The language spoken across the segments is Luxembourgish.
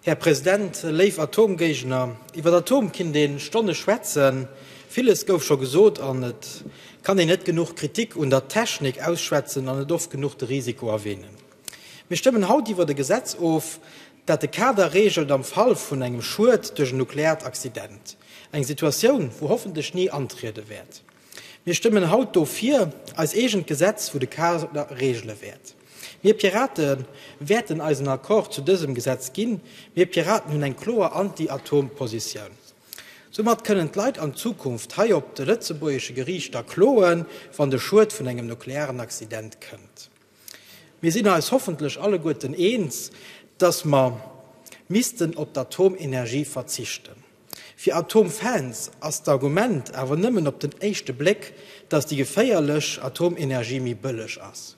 Här President, léif Atomgéigner, iwwer Atom kinnt een Stonne schwätzen. Villes gouf scho gesot an et kann een net genuch Kritik un der Technik ausschwätzen an net oft genuch de Risiko erwähnen. Mir stëmmen haut iwwer e Gesetz of, dat de Kader regelt am Fall vun engem Schued duerch en nukleart Accident, eng Situatioun wou hoffentlech ni antriede wäert. Mir stëmmen haut dofir, eis eegent Gesetz vu de Kader regele wäert. Mir Pirate wäerten eisen Accord zu dësem Gesetz ginn. Mir Piraten hunn eng kloer Anti-Atom-Positioun. Soumat kënnen d'Leit an Zukunft hei op de lëtzebuergesche Geriichter kloen, wann de Schued vun engem nuklearen Accident kënnt. Mir sinn eis hoffentlech alleguerten eens, dass mer missten op d'Atomenergie verzichten. Fir Atomfans ass d'Argument awer nëmmen op den éischte Bléck, datt déi geféierlech Atomenergie méi bëlleg ass.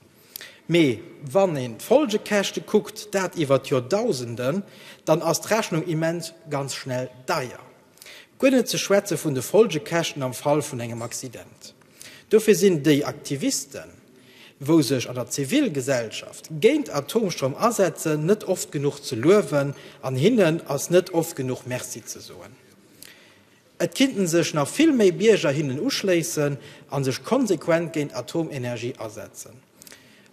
Mee wann een d'Folgekäschte kuckt, dat iwwert Joerdausenden, dann ass d'Rechnung immens ganz schnell deier. Guer net ze schwätze vun de Folgekäschten am Fall vun engem Accident. Dofir sinn déi Aktivisten, wou sech an der Zivilgesellschaft géint Atomstroum asetzen, net oft genuch ze luewen an hinnen ass net oft genuch Merci ze soen. Et kinnten sech nach vill méi Bierger hinnen uschléissen a sech konsequent géint Atomenergie asetzen.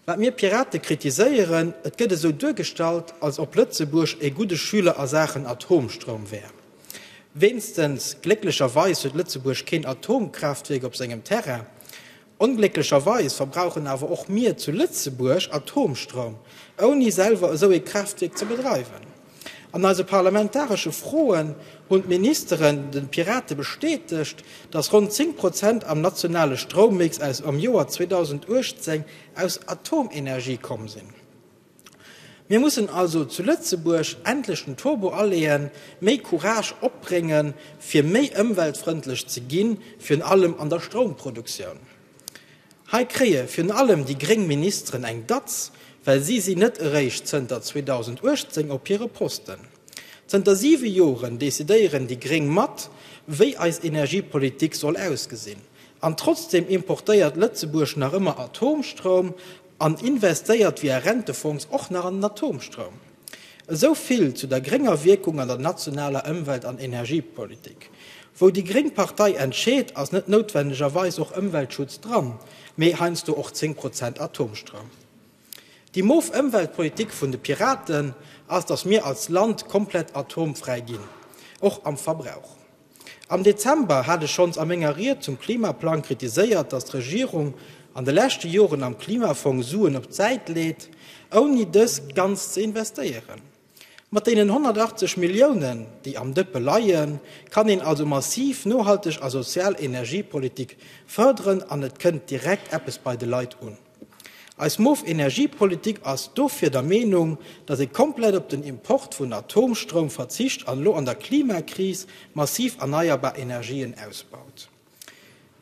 Wat mir Pirate kritiséieren, Et gëtt esou duergestallt, als ob Lëtzebuerg e gudde Schüler a Saachen Atomstroum wär. Weenstens, glécklecherweis huet Lëtzebuerg keen Atomkraaftwierk op sengem Terrain. Onglécklecherweis verbrauchen awer och mir zu Lëtzebuerg Atomstroum, ouni selwer esou ee Kraaftwierk ze bedreiwen. An eise parlamentaresche Froen hunn d'Ministeren de Pirate bestätegt, datt ronn 10 Prozent am nationale Stroummix aus am Joer 2018 aus Atomenergie komm sinn. Mir mussen also zu Lëtzebuerg endlech den Turbo aleeën, méi Courage opbrénge fir méi ëmweltfrëndlech ze ginn, virun allem an der Stroumproduktioun. Hei kréie virun allem déi gréng Ministeren eng Datz, well si sinn net eréischt zënter 2018 op hire Posten. Zënter siwe Joren decidéieren déi gréng mat, wéi eis Energiepolitik soll ausgesinn. An trotzdeem importéiert Lëtzebuerg nach ëmmer Atomstroum an investéiert via Rentefonds och nach an den Atomstroum. Esou vill zu der grénger Wierkung an der nationaler Ëmwelt an Energiepolitik. Wou déi gréng Partei entscheet, ass net noutwendegerweis och Ëmweltschutz dran, mee heiansdo och 10 Prozent Atomstroum. Déi moof Ëmweltpolitik vun de Piraten ass, datt mir als Land komplett atomfräi ginn, och am Verbrauch. Am Dezember hat ech schonns a menger Ried zum Klimaplang kritiséiert, datt d'Regierung an de leschte Joren am Klimafong Suen op d'Säit leet, ouni dës ganz ze investéieren. Mat deenen 180 Milliounen, déi am Dëppe leien, kann een also massiv nohalteg a sozial Energiepolitik fërderen an et kënnt direkt eppes bei de Leit un. Eis moof Energiepolitik ass dofir der Meenung, datt ee komplett op den Import vun Atomstroum verzicht an elo an der Klimakris massiv erneierbar Energien ausbaut.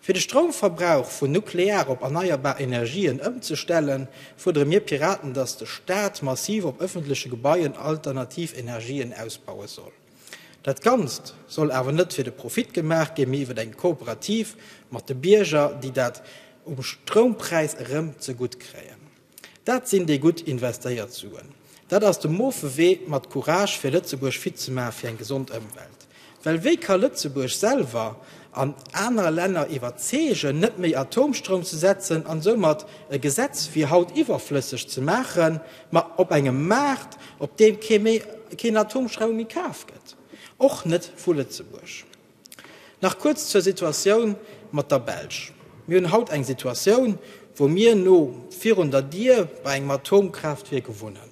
Fir de Stroumverbrauch vun Nuklear op erneierbar Energien ëmzestellen, fuerdere mir Piraten, datt de Staat massiv op ëffentleche Gebaien alternativ Energien ausbaue soll. Dat Ganzt soll awer net fir de Profit gemaach ginn, mee iwwer eng Kooperativ mat de Bierger, déi dat um Stroumpräis erëm zegutt kréien. Dat sinn déi gutt investéiert Suen. Dat ass de moofe Wee mat Courage fir Lëtzebuerg fit ze maache fir eng gesond Ëmwelt. Well wéi ka Lëtzebuerg selwer an aner Länner iwwerzeegen, net méi Atomstroum ze setzen an soumat e Gesetz wéi haut iwwerflësseg ze maachen, Ma op engem Maart, op deem kee méi keen Atomstroum méi kaf gëtt, och net vu Lëtzebuerg. Nach kuerz zur Situatioun mat der Belsch. Mir hunn haut eng Situatioun, wou mir no virun der Dier bei engem Atomkraaftwierk wunnen.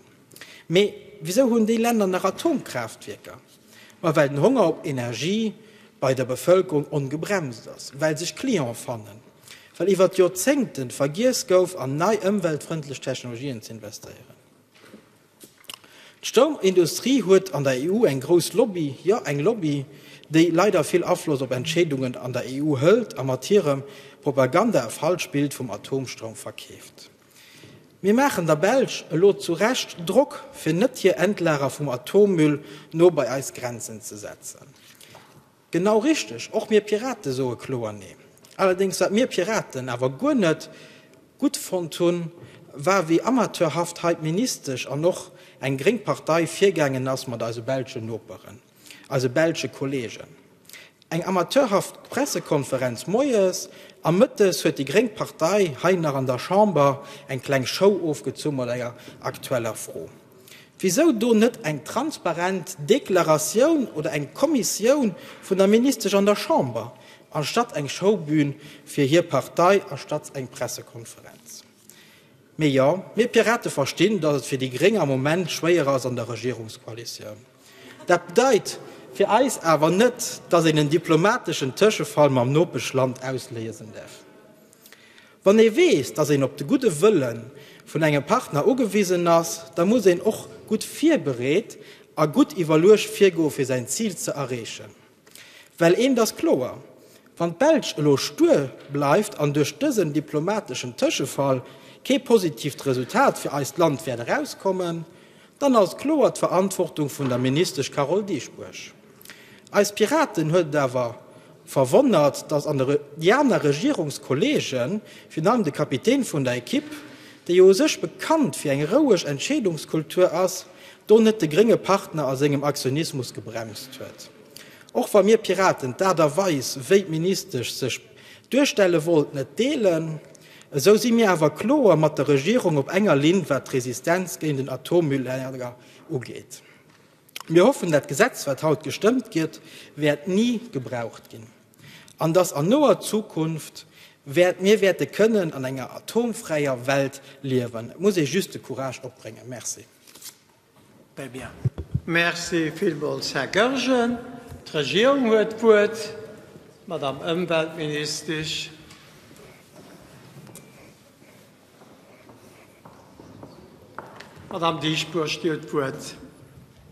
Mee wisou hunn déi Länner nach Atomkraaftwierker? Ma well den Honger op Energie bei der Bevëlkerung ongebremst ass, well sech Client fannen, well iwwert Joerzéngten vergiess gouf an nei ëmweltfrëndlech Technologien ze investéieren. D'Stoumindustrie huet an der EU eng grouss Lobby, jo eng Lobby, déi leider vill Afloss op Entscheedungen an der EU hëlt a mat hirem Propaganda e falsch Bild vum Atomstroum verkeeft. Mir maachen der Belsch elo zu Recht Drock, fir net hir Endlager vum Atommüll no bei eis Grenzen ze setzen. Genau richteg, och mir Piraten soe kloer Nee. Allerdéngs, wat mir Piraten awer guer net gutt fonnt hunn, war, wéi amateurhaft hei d'Ministesch an och eng gréng Partei virgaangen ass mat eise belschen Noperen. eise belsche Kolleegen. Eng amateurhaft Pressekonferenz moies, a mëttes huet déi gréng Partei hei nach an der Chamber eng kleng Show ofgezunn mat enger aktueller Fro. Wisou do net eng transparent Deklaratioun oder eng Kommissioun vun der Ministesch an der Chamber, anstatt eng Showbühn fir hir Partei a statt eng Pressekonferenz? Mee jo, mir Pirate verstinn, datt et fir déi gréng am Moment schwéier ass an der Regierungskoalitioun. Dat bedeit fir eis awer net, datt een en diplomateschen Tëschefall mam Nopeschland ausléiesen däerf. Wann ee weess, datt een op de gudde Wëlle vun engem Partner ugewisen ass, da muss een och gutt virbereet a gutt iwwerluecht virgoe fir säin Zil ze erreechen. Well eent ass kloer, Wann d'Belsch elo stur bleift an duerch dësen diplomateschen Tëschefall kee positiivt Resultat fir eist Land wäert erauskommen, dann ass et kloer d'Verantwortung vun der Ministesch Carole Dieschbourg. Eis Piraten huet et awer verwonnert, datt an déi aner Regierungskolleege, virun allem de Kapitän vun der Ekipp, dee jo u sech bekannt fir eng roueg Entscheedungskultur ass, do net de grénge Partner a sengem Aktionismus gebremst huet, och wa mir Piraten d'Aart a Weis, wéi d'Ministesch sech duerstelle wollt, net deelen, esou si mir awer kloer mat der Regierung op enger Linn, wat d'Resistenz géint en Atommülllager ugeet. Mir hoffen, dat Gesetz, wat haut gestëmmt gëtt, wäert ni gebraucht ginn. An dass an noer Zukunft wäert mir wäerte kënnen an enger atomfräier Welt liewen. Et muss ee just de Courage opbréngen. Merci. Très bien. Merci villmools, Här Goergen. D'Regierung huet d'Wuert, d'Madame Ëmweltministesch. Madame Dieschbourg, Dir hutt d'Wuert.